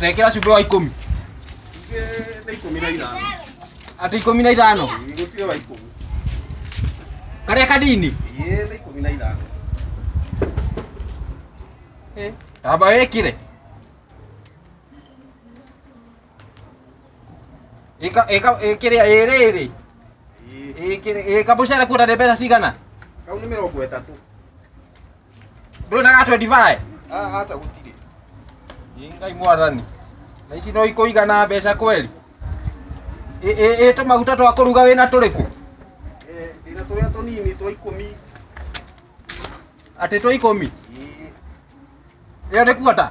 Tekera cumbĩ wa ikũmi. Nĩ ikũmi na ithano. Atĩ ikũmi na ithano? Gũtirĩ wa ikũmi. Karĩa kanini? Ĩĩ nĩ ikũmi na ithano. Tamba wĩkire. Ĩka ĩka ĩkĩrĩa ĩrĩrĩ. Ĩkĩrĩa ĩka mũcere kuona nĩ mbeca cigana? Kau nĩ mĩrongo ĩtatũ. Ndå na gatwe ndivae. Ah, acha gutire. Ĩ, Ngai mwathani. Na ici no ikũigana mbeca kweli? Ĩ, ĩ, ĩ, tũmaguta twa kũruga wĩna tũrĩkũ? Eh, ndĩna tũrĩa tũnini twa ikũmi. Atĩ twa ikũmi? Ĩ, Ĩyo nĩ kuota?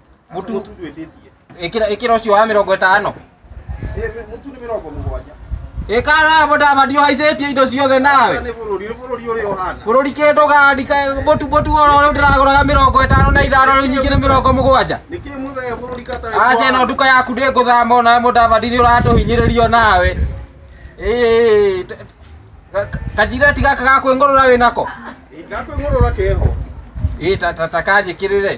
Mũtu- Mũtu twĩtĩtie. Ĩkĩra ĩkĩra ũcio wa mĩrongo ĩtano. Eh, Mũtu nĩ mĩrongo mũgwanja. Ĩkara mũdama ndio haicetie indo ciothe nawe. Nĩ bũrũri, nĩ bũrũri ũrĩa ũhana. Bũrũri kĩndũ gandi mũtu mũtu oro rĩu ndĩragũraga mĩrongo ĩtano na ithano rĩu nyingĩ nĩ mĩrongo mũgwanja. Nĩkĩ mũthee bũrũri katarĩ Aca ĩno kũhana? nduka yaku ndĩ ngũthama ona mũdavadi nĩ ũratũhinyĩrĩrio nawe. Ĩĩ, t- ka- kanjireti gaka ga kwĩngũrũra wĩ nako. Ĩ, Gakwĩngũrũra keho. Ĩĩ ta ta ta kanjĩkĩrĩre.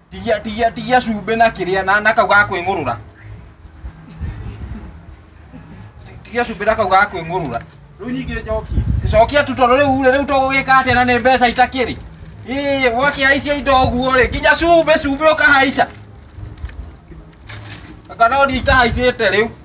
Tigia tigia tigia cumbĩ na kĩrĩa na na kau ga kwĩng'ũrũra. Tigia cumbĩ na kau ga kwĩng'ũrũra. Rĩu nyingĩ njokie. Cokia tu tondũ rĩu rĩ rĩu tũgũgĩka atĩa na nĩ mbeca itakĩrĩ. Ĩĩ wakĩhaicia indo ũguo rĩ nginya cumbĩ cumbĩ ũkahaica. Anga no niĩ itahaicĩte rĩu.